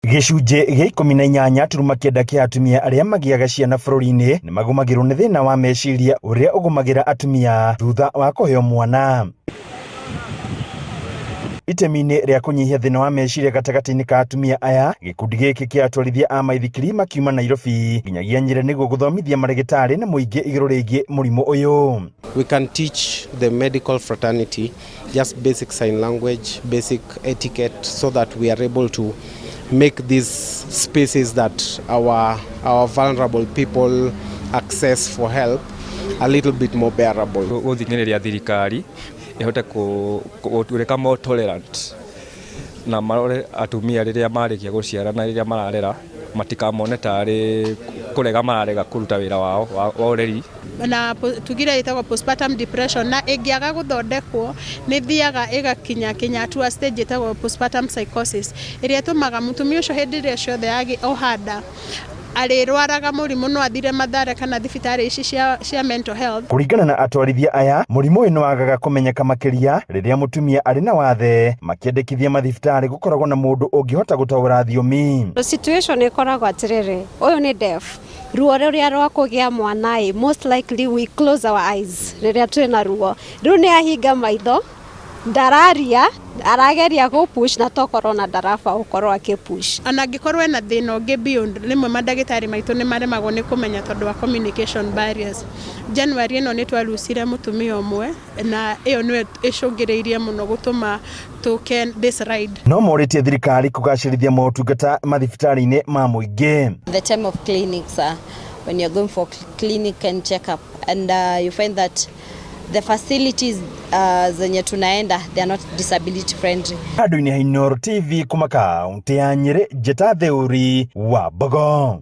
Gĩcunjĩ gĩa ikũmi na inyanya turuma kenda kĩa atumia arĩa magĩaga ciana bũrũri-inĩ nĩ magũmagĩrwo nĩ thĩna wa meciria ũrĩa ũgũmagĩra atumia thutha wa kũheo mwana. Itemi-inĩ rĩa kũnyihia thĩna wa meciria gatagatĩ-inĩ ka atumia aya, gĩkundi gĩkĩ kĩa atwarithia a maithikiri makiuma Nairobi nginyagia Nyĩrĩ nĩguo gũthomithia marĩgĩtarĩ na mũingĩ igũrũ rĩgiĩ mũrimũ ũyũ. We can teach the medical fraternity just basic sign language, basic etiquette, so that we are able to make these spaces that our, our vulnerable people access for help a little bit more bearable. gũthinyĩrĩria thirikari ĩhote kũ- kũ- gũtuĩka more tolerant na marore atumia rĩrĩa marĩkia gũciara na rĩrĩa mararera matikamone tarĩ kũrega mararega kũruta wĩra wao wa wa ũreri na po- tuge ĩrĩa ĩtagwo postpartum depression na ĩngĩaga gũthondekwo nĩ thiaga ĩgakinya kinya atua stage ĩtagwo postpartum psychosis ĩrĩa ĩtũmaga mũtumia ũcio hĩndĩ ĩrĩa ciothe agĩ- oha nda arĩrwaraga mũrimũ no athire mathare kana thibitarĩ ici cia, cia mental health Kũringana na atwarithia aya, mũrimũ ũyũ nĩ wagaga kũmenyeka makĩria rĩrĩa mũtumia arĩ na wathe. Makĩendekithia mathibitarĩ gũkoragwo na mũndũ ũngĩhota gũtaũra thiomi. Situation ĩkoragwo atĩrĩrĩ, ũyũ nĩ deaf, ruo rũrĩa rwa kũgĩa mwana ĩ most likely we close our eyes rĩrĩa twĩ na ruo rĩu nĩ ahinga maitho ndararia arageria gũ push na tokorwo na ndaraba gũkorwo akĩ push ona angĩkorwo ena thĩna ũngĩ beyond rĩmwe mandagĩtarĩ maitũ nĩ maremagwo nĩ kũmenya tondũ wa communication barriers January ĩno nĩ twa lucire mũtumia ũmwe na ĩyo nĩyo ĩcũngĩrĩirie mũno gũtũma tũke this ride. No morĩtie thirikari kũgacĩrithia motungata mathibitarĩ-inĩ ma mũingĩ. the time of clinics uh, when you're going for cl- clinic and check up and uh, you find that the facilities uh, zenye tunaenda they are not disability friendly Handũ-inĩ ha Inooro TV kuma kaũntĩ ya Nyĩrĩ, njĩta Theuri wa Mbogo.